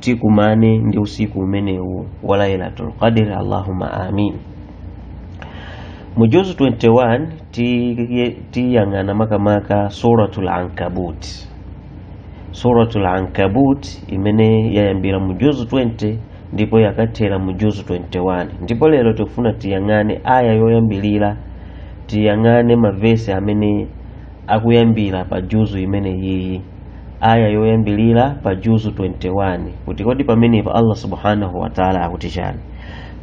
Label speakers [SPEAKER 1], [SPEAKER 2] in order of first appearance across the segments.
[SPEAKER 1] tikumane ndi usiku umenewu wa lailatul qadr allahumma amin mu juzu 21 tiye- tiyang'ana makamaka suratul ankabut suratul ankabut imene yayambira mu juzu 20 ndipo yakathera mu juzu 21 ndipo lero tikufuna tiyang'ane aya yoyambirira tiyang'ane mavesi amene akuyambira pa juzu imene iyi aya yoyambirira pa juzu 21 kuti kodi pamenepa allah subhanahu wataala akuti chani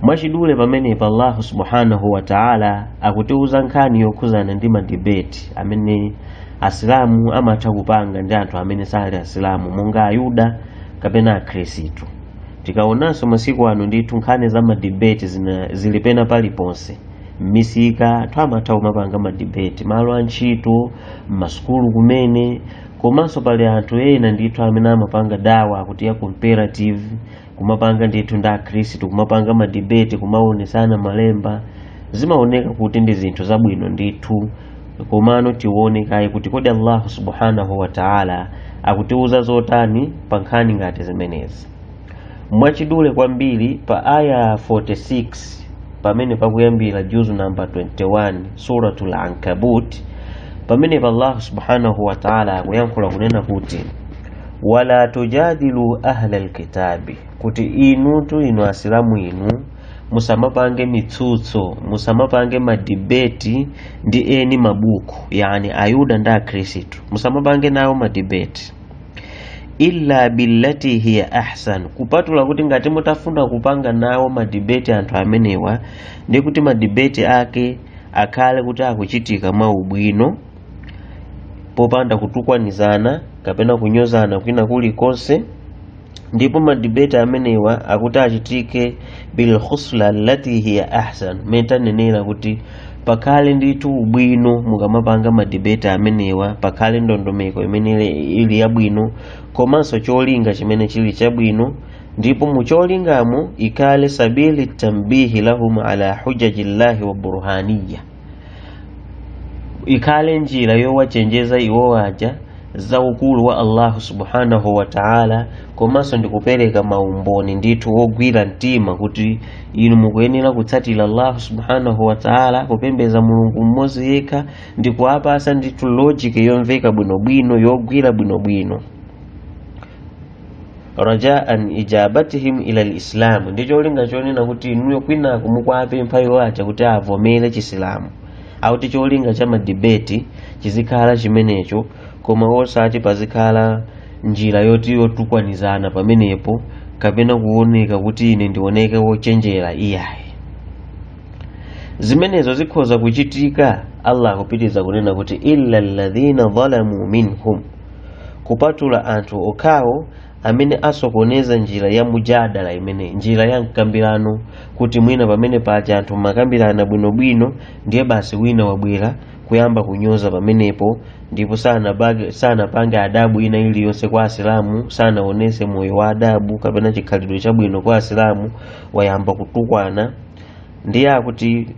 [SPEAKER 1] mwachidule pamenepa allahu subhanahu wataala akutiuza nkhani yokhuzana ndi madibeti amene asilamu amatha kupanga ndi anthu amene sali asilamu monga ayuda kapena akhristu tikaonanso masiku ano ndithu nkhani za madibeti zili pena paliponse m'misika anthu amatha kumapanga madibeti malo a ntchito m'masukulu kumene komanso pali anthu ena ndithu amene amapanga dawa kuti ya comparative kumapanga ndithu ndi akhristu kumapanga madibeti kumaonesana malemba zimaoneka kuti ndi zinthu zabwino ndithu komano tione kaye kuti kodi allahu subhanahu wa taala akutiuza zotani pa nkhani ngati zimenezi mwachidule kwambiri pa aya 46 pamene pakuyambira juzu namba 21 suratul ankabut pamenepa allah subhanahu wa taala akuyankhula kunena kuti wala tujadilu ahla lkitabi kuti inutu inu asilamu inu musamapange mitsutso musamapange madibeti ndi eni mabuku yani ayuda ndi akhristu musamapange nawo madibeti illa billati hiya ahsan kupatula kuti ngati mutafuna kupanga nawo madibeti anthu amenewa ndi kuti madibeti ake akhale kuti akuchitika mwa ubwino popanda kutukwanizana kapena kunyozana kwina kulikonse ndipo madibeti amenewa akuti achitike bil khusla allati hiya ahsan mmene tanenera kuti pakhale ndithu ubwino mukamapanga madibeti amenewa pakhale ndondomeko imene ili- ili yabwino komanso cholinga chimene chili chabwino ndipo mu cholingamo ikhale sabili tambihi lahum ala hujaji llahi wa burhaniya ikhale njira yowachenjeza iwo aja za ukulu wa allahu subhanahu wa taala komanso ndikupereka maumboni ndithu ogwira mtima kuti inu mukuyenera kutsatira allahu subhanahu wa taala kupembeza mulungu mmodzi yekha ndi kuwapasa ndithu logic yomveka bwinobwino yogwira bwinobwino rajaan ijabatihim ila lislamu ndi cholinga chonena kuti inuyo kwinako mukuwapempha iwo aja kuti avomere chisilamu akuti cholinga cha madibeti chizikhala chimenecho koma osati pazikhala njira yoti yotukwanizana pamenepo kapena kuoneka kuti ine ndioneke wochenjera iyayi zimenezo zikhoza kuchitika allah akupitiriza kunena kuti illa alladhina dhalamu minhum kupatula anthu okhawo amene asokoneza njira ya mujadala imeneyi njira ya mkambirano kuti mwina pamene paja anthu mumakambirana bwinobwino ndiye basi wina wabwera kuyamba kunyoza pamenepo ndipo sanapage- sanapange adabu ina iliyonse kwa asilamu sanaonese moyo wa adabu kapena chikhalidwe chabwino kwa asilamu wayamba kutukwana ndiye akuti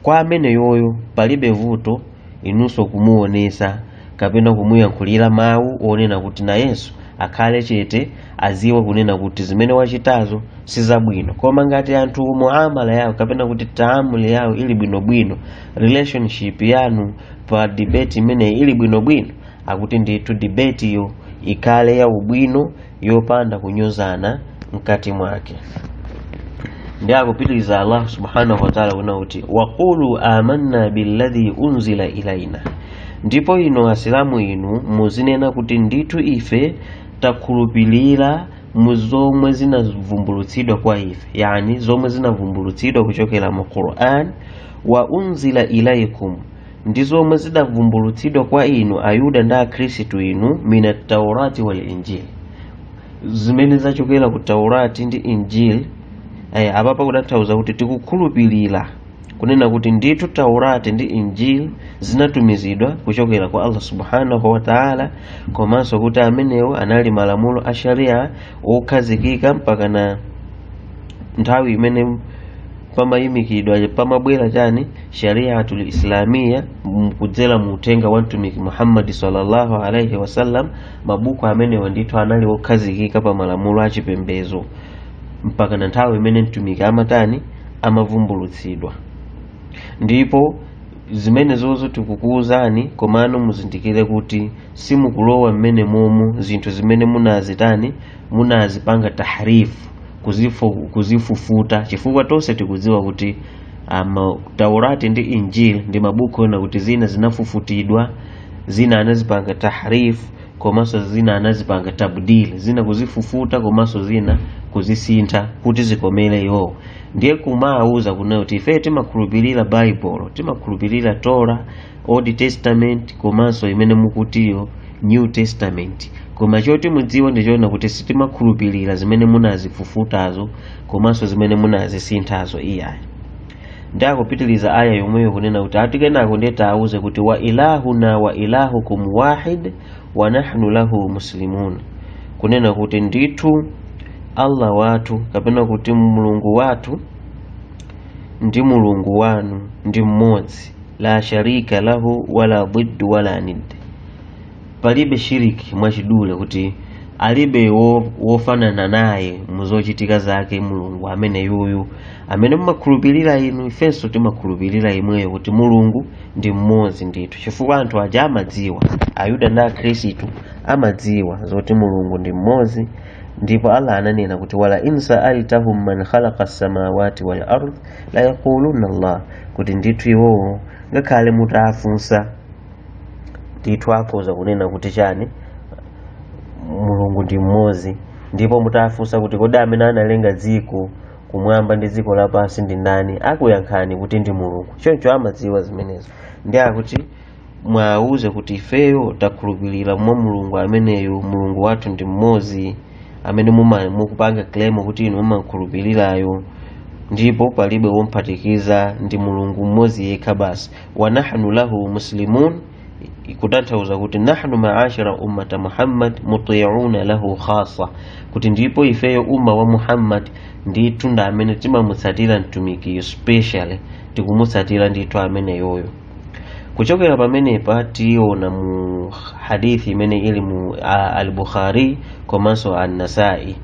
[SPEAKER 1] kwa ameneyoyo palibe vuto inunso kumuonesa kapena kumuyankhulira mawu onena kuti nayenso akhale chete aziwe kunena kuti zimene wachitazo si zabwino koma ngati anthu muamala yawo kapena kuti taamuli yawo ili bwinobwino relationship yanu pa debate imeneyi ili bwinobwino akuti ndithu debateyo ikhale ya ubwino yopanda kunyozana mkati mwake ndiye akupitiriza allah subhanahu wataala kunena kuti waqulu amanna billadhi unzila ilaina ndipo inu asilamu inu muzinena kuti ndithu ife takhulupirira mu zomwe zinavumbulutsidwa kwa ife yani zomwe zinavumbulutsidwa kuchokera mu quran wa unzila ilaikum ndi zomwe zidavumbulutsidwa kwa inu ayuda ndi akhristu inu mina taurati wal injili zimene zachokera ku taurati ndi injili eh, apapa kutanthauza kuti tikukhulupirira kunena kuti ndithu taurati ndi injili zinatumizidwa kuchokera kwa allah subhanahu wa taala komanso kuti amenewo anali malamulo a sharia okhazikika mpakana nthawi imene pamayimikidwa pamabwera chani shariatul islamia m- kudzera mu uthenga wa mtumiki muhammadi sallallahu alaihi wasallam mabuku amenewa ndithu anali okhazikika pa malamulo a chipembedzo mpaka na nthawi imene mtumiki amatani amavumbulutsidwa ndipo zimenezozo tikukuwuzani komano muzindikire kuti simukulowa m'menemomo zinthu zimene munazitani munazipanga tahrif kuzifu, kuzifufuta chifukwa tonse tikudziwa kuti ama taurati ndi injil ndi mabuku onena kuti zina zinafufutidwa zina anazipanga tahrif komanso zina anazipanga tabdil zina kuzifufuta komanso zina kuzisintha kuti zikomere iwowo ndiye kumawauza kunena kuti ife timakhulupirira baibulo timakhulupirira tora old testament komanso imene mukutiyo new testament koma choti mudziwe ndichoona kuti sitimakhulupirira zimene munazifufutazo komanso zimene munazisinthazo iyayi ndi akupitiriza aya yomweyo kunena kuti ati kenako ndiye tiwauze kuti wa ilahuna wa ilahukum wahid wa nahnu lahu muslimun kunena kuti ndithu allah wathu kapena kuti mulungu wathu ndi mulungu wanu ndi mmodzi la sharika lahu wala diddu wala nid palibe shiriki mwachidule kuti alibe wo, wofanana naye muzochitika zake mulungu amene yuyu amene mumakhulupirira inu ifenso timakhulupirira yemweyo kuti mulungu ndi mmodzi ndithu chifukwa anthu aja amadziwa ayuda ndi akhristu amadziwa zoti mulungu ndi mmodzi ndipo allah ananena kuti wala in saaltahum man khalaqa samawati wal ard la yaquluna allah kuti ndithu iwowo ngakhale mutawafunsa ndithu akhoza kunena kuti chani mulungu ndi mmodzi ndipo mutawafunsa kuti kodi amene analenga dziko kumwamba ndi dziko lapansi ndi ndani akuyankhani kuti ndi mulungu choncho amadziwa zimenezo ndi akuti mwauze kuti ifeyo takhulupirira mwa mulungu ameneyo mulungu wathu ndi mmodzi amene muma- mukupanga claim kuti inu mumakhulupirirayo ndipo palibe womphatikiza ndi mulungu mmodzi yekha basi wa nahnu lahu muslimun kutanthauza kuti nahnu maashira ummata muhammad mutiuna lahu khasa kuti ndipo ifeyo umma wa muhammad ndithu ndi amene timamutsatira mtumikiyo specially tikumutsatira ndithu ameneyoyo kuchokera pamenepa tiona mu hadithi imene ili mu a- al-bukhari komanso an-nasai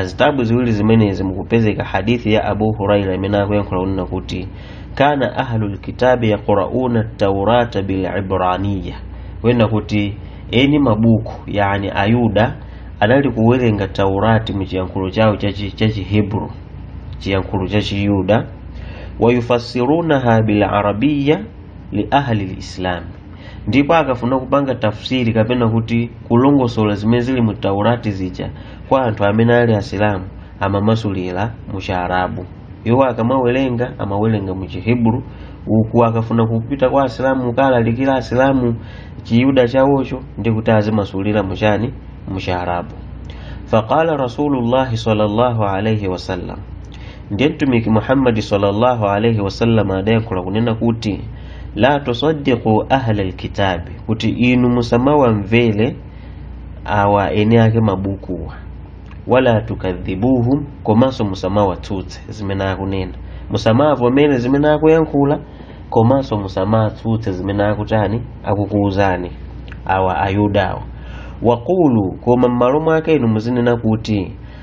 [SPEAKER 1] zitabu ziwiri zimenezi mukupezeka hadithi ya abu huraira imene akuyankhula kunena kuti kana ahlu lkitabi yaqrauna taurata bilibraniya kunena kuti eni mabuku yani ayuda anali kuwerenga taurati mu chiyankhulo chawo chachi- chachihebru chiyankhulo chachiyuda wayufasirunaha bilarabiya li ahli lislam ndipo akafuna kupanga tafsiri kapena kuti kulongosola zimene zili mu taurati zija kwa anthu amene ali asilamu amamasulira mu chiarabu iwo akamawerenga amawerenga mu chihebru uku akafuna kupita kwa asilamu kukalalikira asilamu chiyuda chawocho ndi kuti azimasulira muchani mu chiarabu faqala rasulullahi sallallahu alaihi wasallam ndiye mtumiki muhammadi sallallahu alaihi wasallam adayankhula kunena kuti la tusaddiqu ahla lkitabi kuti inu musamawamvere awa eni ake mabukuwa wala tukadhibuhum komanso musamawatsutse zimene akunena musamavomere zimene akuyankhula komanso musamatsutse zimene akutani akukuuzani awa ayudawa waqulu koma m'malo mwake inu muzinena kuti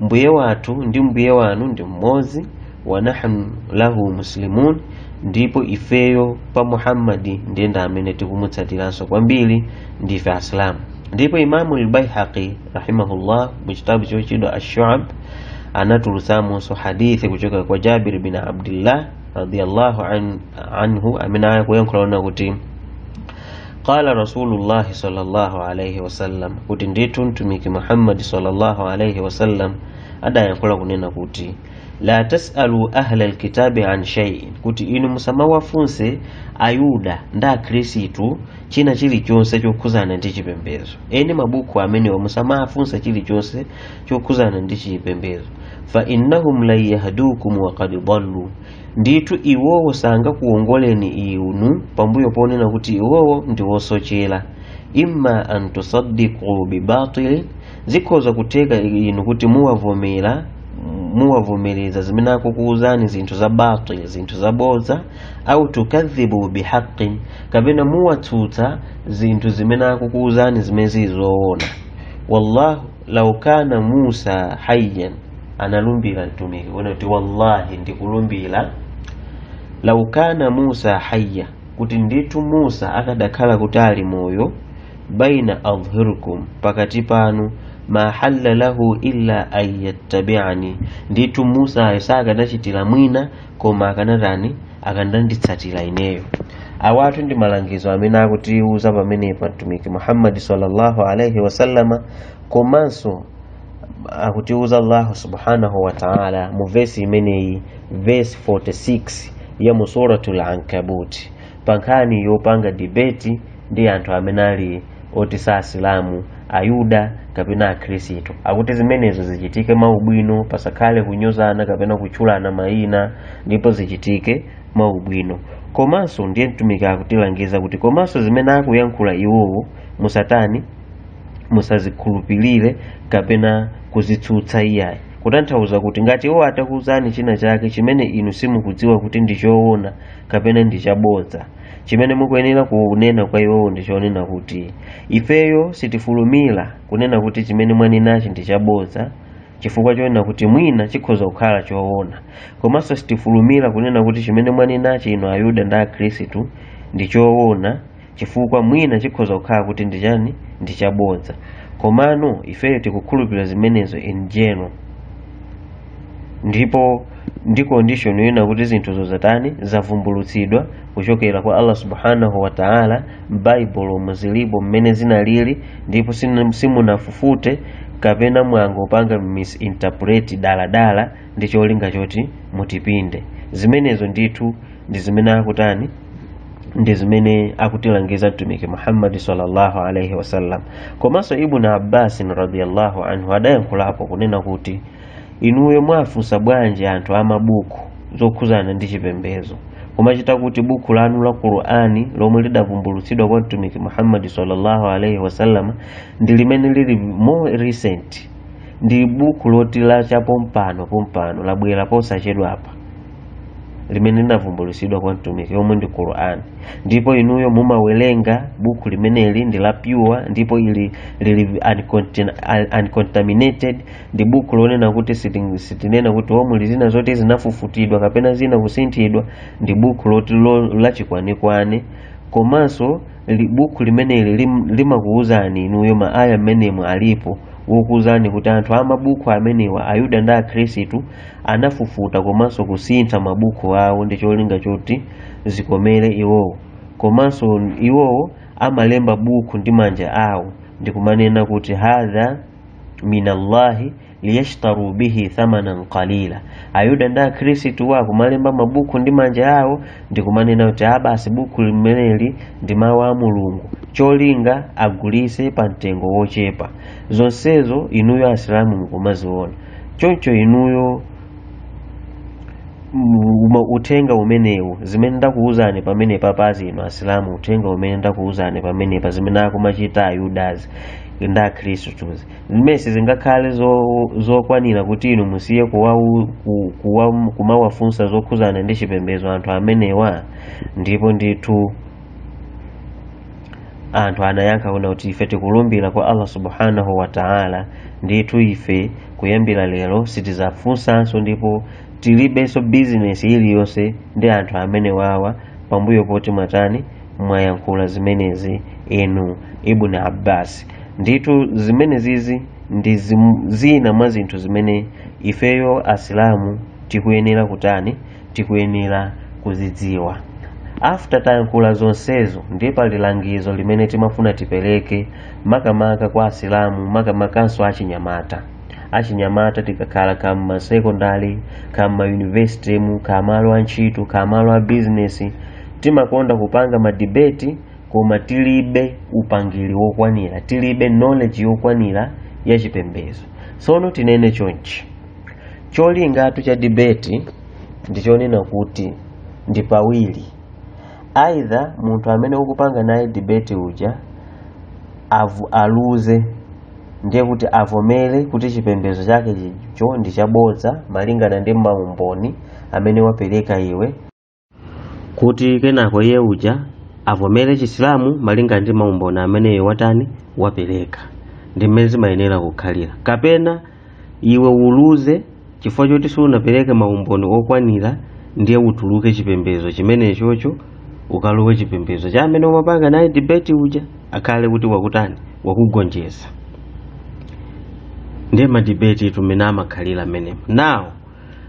[SPEAKER 1] mbuye wathu ndi mbuye wanu ndi mmodzi wa nahnu lahu muslimun ndipo ifeyo pa muhammadi ndiye ndi amene tikumutsatiranso kwambiri ndife asilamu ndipo imamu lbaihaqi rahimahullah mu chitabu chotchedwa Ashuab anatulutsamonso hadithi kuchokera kwa jabir bin abdillah radiallahu anhu amene akuyankhula kunena kuti qala rasulullahi sallallahu alaihi wasallam kuti ndithu mtumiki muhammadi sallallahu alaihi wasallam adayankhula kunena kuti la tasalu ahla alkitabi an shay'in kuti inu musamawafunse ayuda ndi akhristu china chilichonse chokhuzana ndi chipembedzo eni mabuku amenewa musamawafunse chilichonse chokhuzana ndi chipembedzo fa innahum lan yahdukum wa qad dallu ndithu iwowo sangakuwongoleni inu pambuyo ponena kuti iwowo ndi wosochera imma an tusaddiqu bibatilin zikhoza kutheka inu kuti muwavomera muwavomereza zimene akukuwuzani zinthu za batil zinthu za bodza au tukadhibu bihaqin kapena muwatsutsa zinthu zimene akukuwuzani zimene zili zoona wallahu lau kana musa hayyan analumbira mtumiki kunena kuti wallahi ndikulumbira lau kana musa hayya kuti ndithu musa akadakhala kuti ali moyo baina adhhurikum pakati panu ma halla lahu illa an yattabi'ani ndithu musayo sakanachitira mwina koma akanatani akadanditsatira ineyo awatu ndi malangizo amene akutiuza pamenepa mtumiki muhammadi sallallahu alaihi wasallama komanso akutiuza allahu subhanahu wa taala mu vesi imeneyi vesi 46 ya mu suratul ankabuti pa nkhani yopanga dibeti ndi anthu amene ali oti si asilamu ayuda kapena akhristu akuti zimenezo zichitike mwaubwino pasakhale kunyozana kapena kutchulana mayina ndipo zichitike mwaubwino komanso ndiye mtumiki akutilangiza kuti komanso zimene akuyankhula iwowo musatani musazikhulupirire kapena kuzitsutsa iyayi kutanthauza kuti ngati iwo atakuuzani china chake chimene inu simukudziwa kuti ndi choona kapena ndi chabodza chimene mukuyenera kunena kwa iwowo ndi chonena kuti ifeyo sitifulumira kunena kuti chimene mwanenachi ndi chabodza chifukwa chonena kuti mwina chikhoza kukhala choona komanso sitifulumira kunena kuti chimene mwanenachi inu ayuda ndi akhristu ndi choona chifukwa mwina chikhoza kukhala kuti ndi chani ndi chabodza komano ifeyo tikukhulupirira zimenezo in general ndipo ndi condition yina kuti zinthuzo zatani zavumbulutsidwa kuchokera kwa allah subhanahu wa taala m'baibulo muzilipo mmene zinalili ndipo sinu- simunafufute kapena mwangopanga misinterpret daladala ndi cholinga choti mutipinde zimenezo ndithu ndi zimene akutani ndi zimene akutilangiza mtumiki muhammadi sallallahu alaihi wasallam komanso ibnu abbasin radiallahu anhu adayankhulapo kunena kuti inuyo mwafunsa bwanji anthu amabuku zokhuzana ndi chipembezo kumachita kuti buku lanu la qur'ani lomwe lidavumbulutsidwa kwa mtumiki muhammadi sallallahu alaihi wasallam ndi limene lili more recent ndi buku loti la chapompano pompano labwera posachedwapa limene linavumbulutsidwa kwa mtumiki yomwe ndi Qur'an ndipo inuyo mumawerenga buku limeneli ndi la pure ndipo ili lili uncontin- un- uncontaminated ndi buku lonena kuti siti- sitinena kuti umu muli zina zoti zinafufutidwa kapena zina kusinthidwa ndi buku loti lo- lachikwanekwane komanso li- buku limeneli lim- limakuwuzani inuyo maaya mmenemo alipo wokuwuzani kuti anthu amabuku amenewa ayuda ndi akhristu anafufuta komanso kusintha mabuku awo ndi cholinga choti zikomere iwowo komanso iwowo amalemba buku ndi manja awo ndikumanena kuti hadha minallahi liyashtaru bihi thamanan qalila ayuda ndi akhristuwa kumalemba mabuku ndi manja awo ndikumanena kuti abasi buku limeneli ndi mawu a mulungu cholinga agulise pa mtengo wochepa zonsezo inuyo asilamu mukumaziona choncho inuyo mu- uma- uthenga umenewu zimene ndakuwuzani pamenepapazi inu asilamu uthenga umene ndakuwuzani pamenepa zimene akumachita ayudazi ndi akhristuzi zimene sizingakhale zo- zokwanira kuti inu musiye kuwawu- ku- kuwa- kumawafunsa zokhuzana ndi chipembedzo anthu amenewa ndipo ndithu anthu adayankha kuna kuti ife tikulumbira kwa allah subhanahu wa taala ndithu ife kuyambira lero sitizafunsanso ndipo tilibenso bizinesi iliyonse ndi anthu amenewawa pambuyo poti mwatani mwayankhula zimenezi inu ibn abbas ndithu zimenezizi ndi zim- zina mwa zinthu zimene ifeyo asilamu tikuyenera kutani tikuyenera kuzidziwa after tayankhula zonsezo ndi pali langizo limene timafuna tipereke makamaka kwa asilamu makamakanso achinyamata achinyamata tikakhala ka mmasekondari ka mmayunivesity mu ka malo a ntchito ka malo a bizinesi timakonda kupanga madibeti koma tilibe upangiri wokwanira tilibe knowledge yokwanira ya chipembedzo tsono tinene chonchi cholingatu cha debate ndi chonena kuti ndi pawiri either munthu amene ukupanga naye debate uja aluze ndiye kuti avomere kuti chipembedzo chake chicho ndi chabodza malingana ndi maumboni amene wapereka iwe kuti kenako iye uja avomere chisilamu malinga ndi maumboni amene iwe watani wapereka ndi mmene zimayenera kukhalira kapena iwe uluze chifukwa choti sunapereke maumboni okwanira ndiye utuluke chipembedzo chimenechocho ukalowe chipembedzo cha amene umapanga naye debate uja akhale kuti wakutani wakugonjeza ndiye madebate tumene amakhalira mmenemo now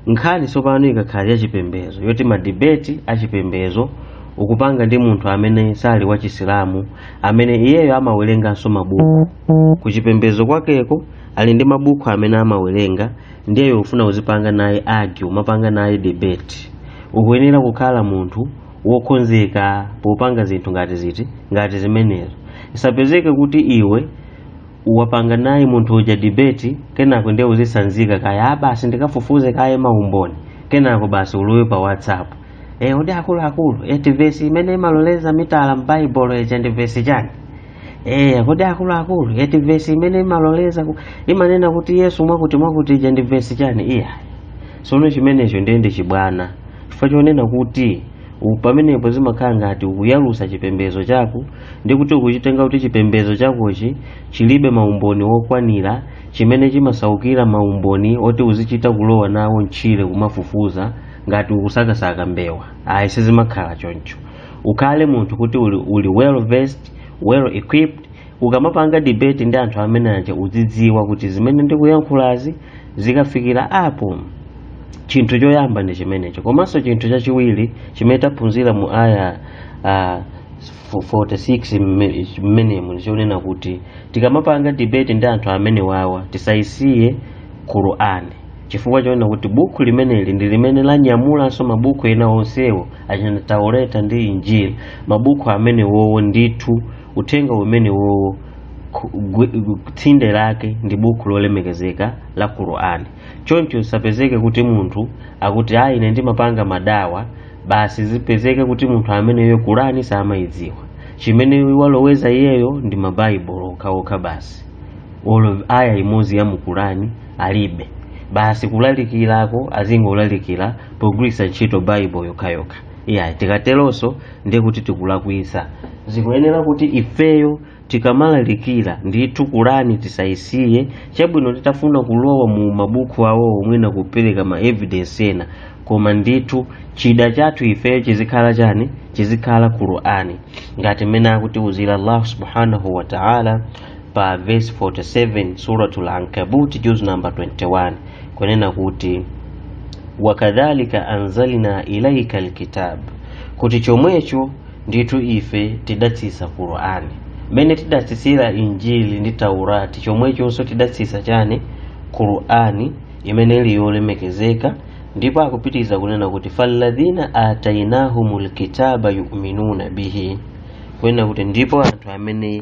[SPEAKER 1] nkhani tsopano ikakhala yachipembedzo yoti madibeti achipembedzo ukupanga ndi munthu amene sali wa chisilamu amene iyeyo amawerenganso mabuku ku chipembedzo kwakeko ali ndi mabuku amene amawerenga ndiyeyo ufuna uzipanga naye argue umapanga naye debate ukuyenera kukhala munthu wokonzeka popanga zinthu ngati ziti ngati zimenezo isapezeke kuti iwe wapanga naye munthu uja debate kenako ndiye uzisanzika kaya basi ndikafufuze kaye maumboni kenako basi ulowe pa whatsapp e, kodi akuluakulu eti vesi imene imaloleza mitala m'baibulo ija ndi vesi chani e, kodi akuluakulu eti vesi imene imaloleza ku- imanena kuti yesu mwakuti mwakuti ija ndi vesi chani iya sono chimenecho ndiye ndi chibwana chifukwa chonena kuti u- pamenepo zimakhala ngati ukuyalusa chipembedzo chako ndi kuti ukuchitenga kuti chipembedzo chakochi chilibe maumboni wokwanira chimene chimasaukira maumboni oti uzichita kulowa nawo mtchire kumafufuza ngati ukusakasaka mbewa ayi sizimakhala choncho ukhale munthu kuti uli, uli well versed well equipped ukamapanga debate ndi anthu amene aja uzidziwa kuti zimene ndikuyankhulazi zikafikira apo chinthu choyamba ndi chimenecho komanso chinthu chachiwiri chimene taphunzira mu aya uh, 46 mme- mmenemu ndichonena kuti tikamapanga debate ndi anthu amenewawa tisayisiye qur'ani chifukwa chonena kuti bukhu limeneli ndi limene lanyamulanso mabukhu ena onsewo achina taureta ndi injili mabukhu amenewowo ndithu uthenga umenewowo ku- gwi- gu- tsinde lake ndi bukhu lolemekezeka la qur'ani choncho zisapezeke kuti munthu akuti ayi ine ndimapanga madawa basi zipezeke kuti munthu ameneyo qur'ani samayidziwa chimene waloweza iyeyo ndi mabaibulo okhaokha basi olo aya imodzi ya mu qur'ani alibe basi kulalikirako azingolalikira pogwiritsa ntchito baibulo yokhayokha iyayi tikateronso ndiye kuti tikulakwitsa zikuyenera kuti ifeyo tikamalalikira ndithu qur'ani tisayisiye chabwino titafuna kulowa mu mabuku awo omwe ena kupereka ma evidence ena koma ndithu chida chathu ifeyo chizikhala chani chizikhala qur'ani ngati mmene akutiuzira allah subhanahu wa ta'ala pa verse 47 suratul ankabuti juz namba 21 kunena kuti wakadhalika anzalna ilaika alkitab kuti chomwecho ndithu ife tidatsitsa qur'ani mmene tidatsitsira injili ndi taurati chomwechonso tidatsitsa chani qur'ani imene ili yolemekezeka ndipo akupitiriza kunena kuti falladhina atainahumul kitaba yuminuna bihi kunena kuti ndipo anthu amene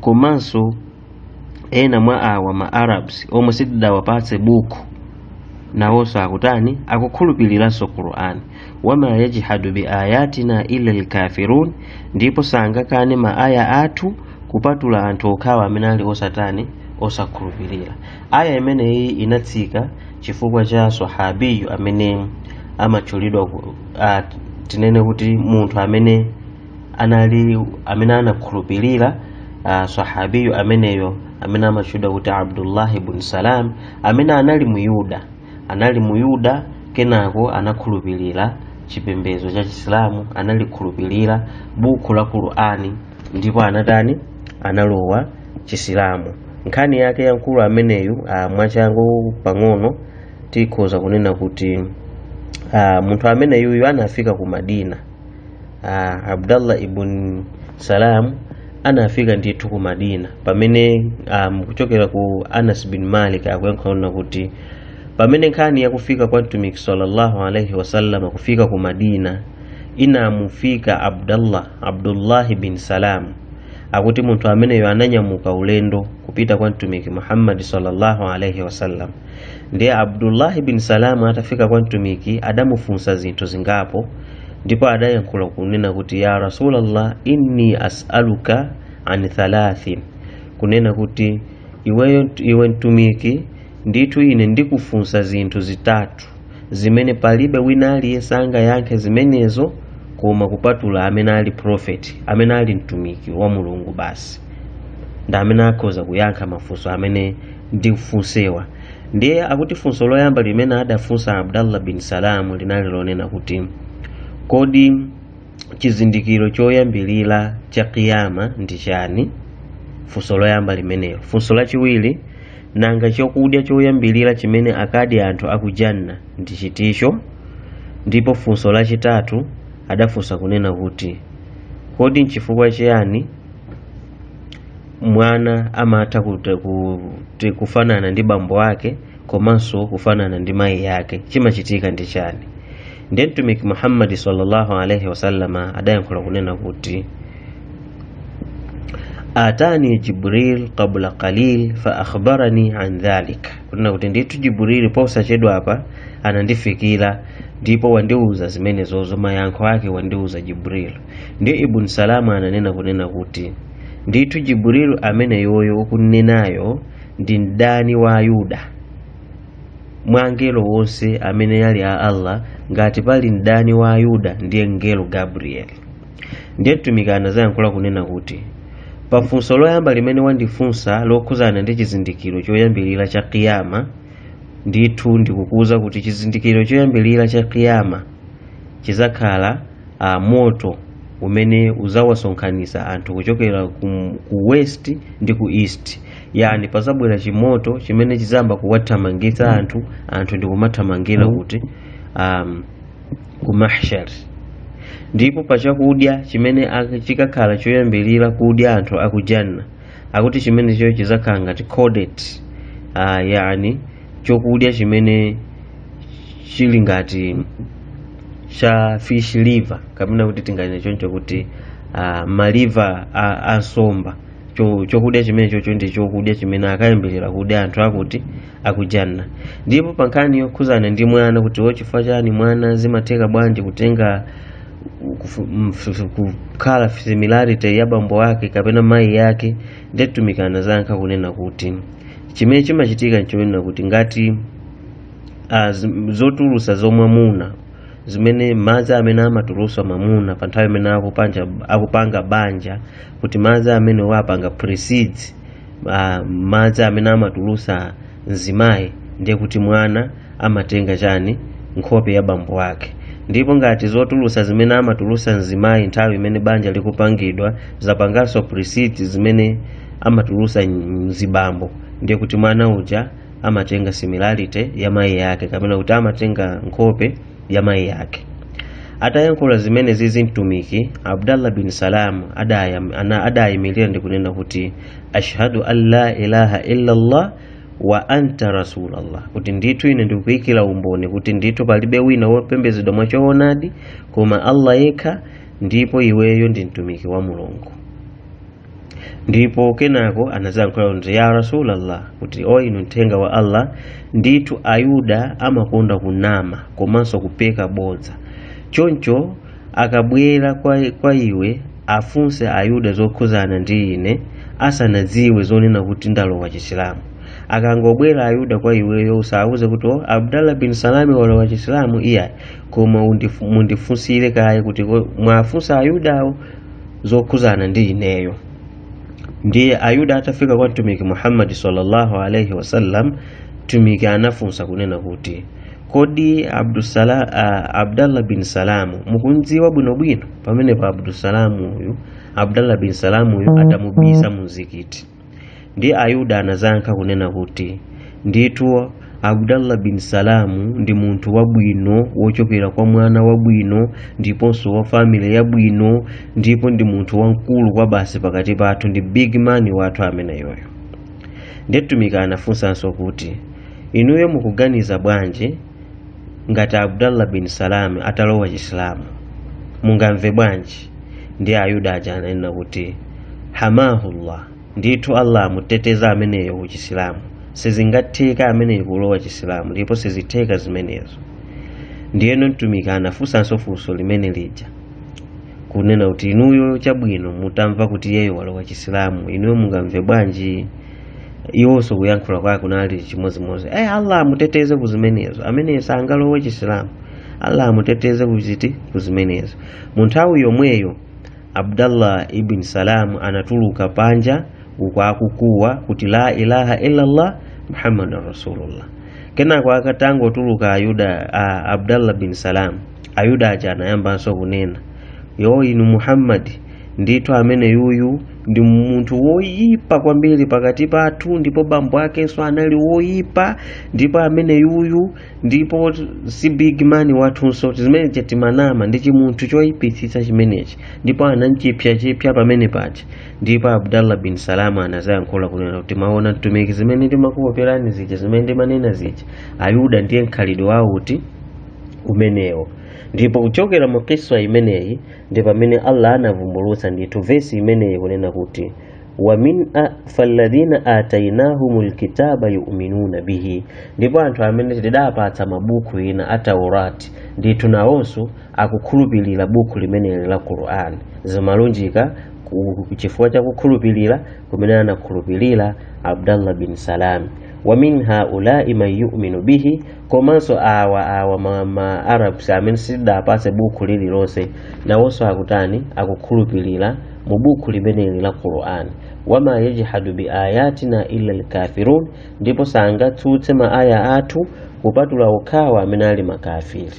[SPEAKER 1] komanso ena mwa awa ma arabs omwe sitidawapatse buku nawonso akutani akukhulupiriranso qur'an wama yajhadu bi ayatina illa lkafirun ndipo sangakane ma aya athu kupatula anthu okhawo amene ali osatani osakhulupirira aya imeneyiyi inatsika chifukwa cha sahabiyu amene amatchulidwa ku- ah, tinene kuti munthu amene anali amene anakhulupirira uh, sahabiyu ameneyo amene amatchedwa kuti abdullahi bun salam amene anali muyuda anali muyuda kenako anakhulupirira chipembedzo cha chisilamu analikhulupirira buku la qur'ani ndipo anatani analowa chisilamu nkhani yake ya mkulu ameneyu uh, mwachangu pang'ono tikhoza kunena kuti uh, munthu ameneyuyu anafika ku madina ah, abdallah ibn salam anafika ndithu ku madina pamene um, kuchokera kwa anas bin malik akuyankhula kunena kuti pamene nkhani yakufika kwa mtumiki sallallahu alaihi wasallam kufika ku madina inamufika abdallah abdullahi bin salam akuti munthu ameneyo ananyamuka ulendo kupita kwa mtumiki muhammadi sallallahu alaihi wasallam ndiye abdullahi bin salamu atafika kwa mtumiki adamufunsa zinthu zingapo ndipo adayankhula kunena kuti ya rasulallah inni asaluka an thalathin kunena kuti iweyo iwe mtumiki ndithu ine ndikufunsa zinthu zitatu zimene palibe wina aliyense angayankhe zimenezo koma kupatula amene ali profeti amene ali mtumiki wa mulungu basi ndi amene akhoza kuyankha mafunso amene ndikufunsewa ndiye akuti funso loyamba limene adafunsa abdallah bin salamu linali lonena kuti kodi chizindikiro choyambirira cha kiyama ndi chani funso loyamba limenelo funso lachiwiri nanga chokudya choyambirira chimene akadye anthu akujanna ndi chiticho ndipo funso lachitatu adafunsa kunena kuti kodi nchifukwa chiyani mwana amatha kut- kuti kufanana ndi bambo wake komanso kufanana ndi mayi yake chimachitika ndi chani ndiye mtumiki muhammadi sallallahu alaihi wasallama adayankhula kunena kuti atani jibril qabla qalil fa akhbarani an dhalik kunena kuti ndithu jibrili posachedwa apa anandifikira ndipo wandiuza zimenezozo mayankho ake wandiuza jibril ndiye ibn salamu ananena kunena kuti ndithu jibril ameneyoyo ukumnenayo ndi mdani wa ayuda mwa angelo onse amene ali a allah ngati pali mdani wa ayuda ndiye mngelo gabrieli ndiye mtumiki anazayankhula kunena kuti pa funso loyamba limene wandifunsa lokhuzana ndi chizindikiro choyambirira cha kiyama ndithu ndikukuwuza kuti chizindikiro choyambirira cha kiyama chizakhala moto umene uzawasonkhanisa anthu kuchokera ku, ku west ndi ku east yani pazabwera chimoto chimene chizayamba kuwathamangitsa anthu anthu ndikumathamangira kuti um, ku mahshar ndipo pachakudya chimene ak- chikakhala choyambirira kudya anthu akujanna akuti chimenecho chizakhala ngati caudate uh, yani chokudya chimene chili ngati cha fish liver kapena kuti tinganene choncho kuti uh, maliva a, a nsomba Cho- chokudya chimene chocho ndi chokudya chimene akayambirire kudya anthu akuti akujanna ndipo pa nkhani yokhuzana ndi mwana kuti wo chifukwa chani mwana zimatheka bwanji kutenga kufu- mf- kukhala similarity ya bambo wake kapena mayi yake nde mtumiki anazayankha kunena kuti chimene chimachitika nchonena kuti ngati ah, zim- zotulusa za mwamuna zimene madzi amene amatulusa mwamuna pa nthawi imene akupanja akupanga banja kuti madzi amene wapanga precedes ah, madzi amene amatulusa mzimayi ndiye kuti mwana amatenga chani nkhope ya bambo wake ndipo ngati zotulusa zimene amatulusa mzimayi nthawi imene banja likupangidwa zapanganso precedes zimene amatulusa mzibambo ndiye kuti mwana uja amatenga similarity ya mayi yake kapena kuti amatenga nkhope ya mayi yake atayankhula zimene zizi mtumiki abdallah bin salam adayam- ana- adayimirira ndi kunena kuti ashhadu an la ilaha illallah wa anta rasulallah kuti ndithu ine ndikuyikira umboni kuti ndithu palibe wina wopembedzedwa mwachoonadi koma allah yekha ndipo iweyo ndi mtumiki wa mulungu ndipo kenako anazayankhula kuti ya rasulallah kuti o inu mthenga wa allah ndithu ayuda amakonda kunama komanso kupeka bodza choncho akabwera kwa, kwa iwe afunse ayuda zokhuzana ndi ine asanadziwe zonena kuti ndalowa chisilamu akangobwera ayuda kwa iweyo usawuze kuti o abdallah bin salami walowa chisilamu iyayi koma undifu- mundifunsire kaye kuti ko- muwafunse ayudawo zokhudzana ndi ineyo ndiye ayuda atafika kwa mtumiki muhammadi sallallahu alaihi wasallam mtumiki anafunsa kunena kuti kodi Abdusala, uh, abdallah bin salamu mukumdziwa bwinobwino pamenepa abdusalamu uyu abdallah bin salamu uyu adamubisa mumzikiti Ndiye Ayuda anazayankha kunena kuti, Ndithu Abdallah bin Salamu ndi munthu wabwino wochokera kwa mwana wabwino ndiponso wa family yabwino ndipo ndi munthu wamkulu kwabasi pakati pathu ndi big man wathu ameneyoyo. Ndiye Mtumiki anafunsanso kuti, Inuyo mukuganiza bwanji? ngati abdallah bin salami atalowa chisilamu mungamve bwanji ndiye ayuda aja ananena kuti hamahullah ndithu allah amuteteza ameneyo ku chisilamu sizingatheke ameneyo kulowa chisilamu ndipo sizitheka zimenezo ndiyeno mtumiki anafunsanso funso limene lija kunena kuti inuyo chabwino mutamva kuti yeyo walowa chisilamu inuyo mungamve bwanji iwonso kuyankhula kwake kunali chimodzimodzi eh allah amuteteze ku zimenezo ameneyo sangalowe chisilamu allah amuteteze kuziti ku zimenezo mu nthawi yomweyo abdallah ibn salam anatuluka panja uku akukuwa kuti la ilaha illallah muhammadan rasulullah kenako atangotuluka ayuda a abdallah bin salam ayuda aja anayambanso kunena o inu muhammadi ndithu amene yuyu ndi munthu woyipa kwambiri pakati pathu ndipo bambo akenso anali woyipa ndipo ameneyuyu ndipo si big man wathunso zimene timanena ndi chimunthu choyipitsitsa chimenechi ndipo anamchipsachipsa pamene paja ndipo abdallah bin salam anazayankhula kunena kuti maona mtumiki zimene ndimakuoperani zija zimene ndimanena zija ayuda ndiye mkhalidwe wawo uti umenewo ndipo kuchokera mu kiswa imeneyi ndi pamene allah anavumbulutsa ndithu vesi imeneyi kunena kuti falladhina atainahum lkitaba yuminuna bihi ndipo anthu amene tidapatsa mabuku ena a taurati ndithu nawonso akukhulupirira buku limeneli la qur'an zimalunjika chifukwa cha kukhulupirira kumene anakhulupirira abdallah bin salami wa min haulai man yuminu bihi komanso awa awa ma arabs amene sitidapatse bukhu lililonse nawonso akutani akukhulupirira mu bukhu limeneli la qur'an wama yajhadu bi ayatina illa lkafirun ndipo sangatsutse ma aya athu kupatula okhawo amene ali makafiri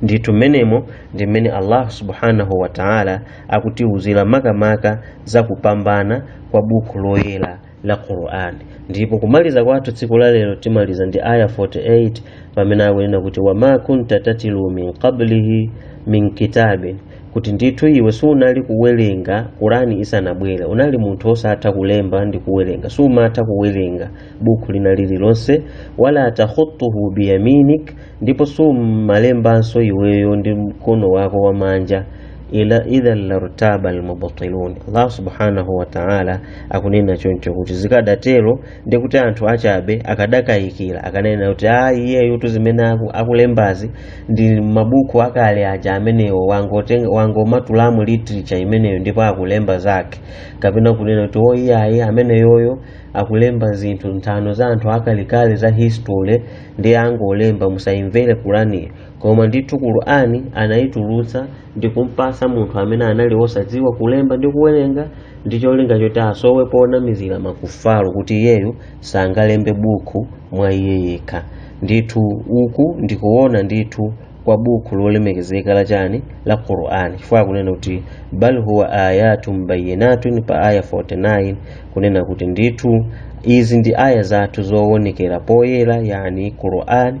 [SPEAKER 1] ndithu mmenemo ndi mmene allah subhanahu wa taala akutiwuzira makamaka za kupambana kwa bukhu loyera la Qur'an ndipo kumaliza kwathu tsiku la lero timaliza ndi aya 48 pamene akunena kuti wama kunta tatilu min qablihi min kitabin kuti ndithu iwe sunali kuwerenga Qur'ani isanabwere unali munthu osatha kulemba ndi kuwerenga sumatha kuwerenga buku lina lililonse wala takhutuhu biyaminik ndipo sumalembanso iweyo ndi mkono wako wamanja idha lartaba almubtilun allah subhanahu wa ta'ala akunena choncho kuti zikadatero ndi kuti anthu achabe akadakayikira akanena kuti a iyeyotu zimene aku- akulembazi ndi mabuku akale aja amenewo wangotenga- wangomatula mu literature imeneyo ndipo akulemba zake kapena kunena kuti o iyayi ameneyoyo akulemba zinthu nthano za anthu akalekale za history ndiye wangolemba musayimvere qur'aniyo koma ndithu qur'ani anayitulutsa ndi kumpasa munthu amene anali wosadziwa kulemba ndi kuwerenga ndi cholinga choti asowe ponamizira makufaru kuti iyeyo sangalembe bukhu mwa iye yekha ndithu uku ndikuona ndithu kwa bukhu lolemekezeka la chani la qur'ani chifukwa akunena kuti bal huwa ayatun bayinatun pa aya 49 kunena kuti ndithu izi ndi aya zathu zowonekera poyera yani qur'ani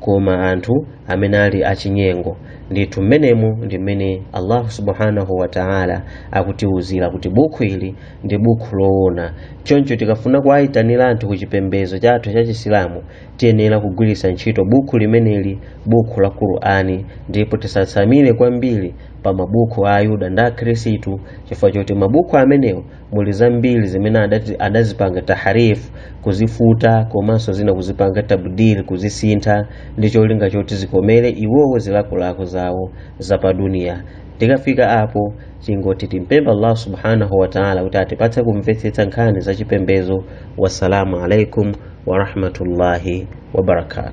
[SPEAKER 1] koma anthu amene ali achinyengo ndithu mmenemo ndi mmene allahu subhanahu wa taala akutiwuzira kuti bukhu ili ndi bukhu loona choncho tikafuna kuwayitanira anthu ku chipembedzo chathu cha chisilamu tiyenera kugwiritsa ntchito bukhu limeneli bukhu la qur'ani ndipo tisatsamire kwambiri pa mabukhu a ayuda ndi akhristu chifukwa choti mabukhu amenewo muli zambiri zimene adazipanga taharif kuzifuta komanso zina kuzipanga tabdil kuzisintha ndi cholinga choti zikomere iwowo zilakolako zawo za pa duniya tikafika apo tingoti timpempha allah subhanahu wa taala kuti atipatse kumvetsetsa nkhani za chipembezo wassalamu alaikum warahmatullahi wabarakatu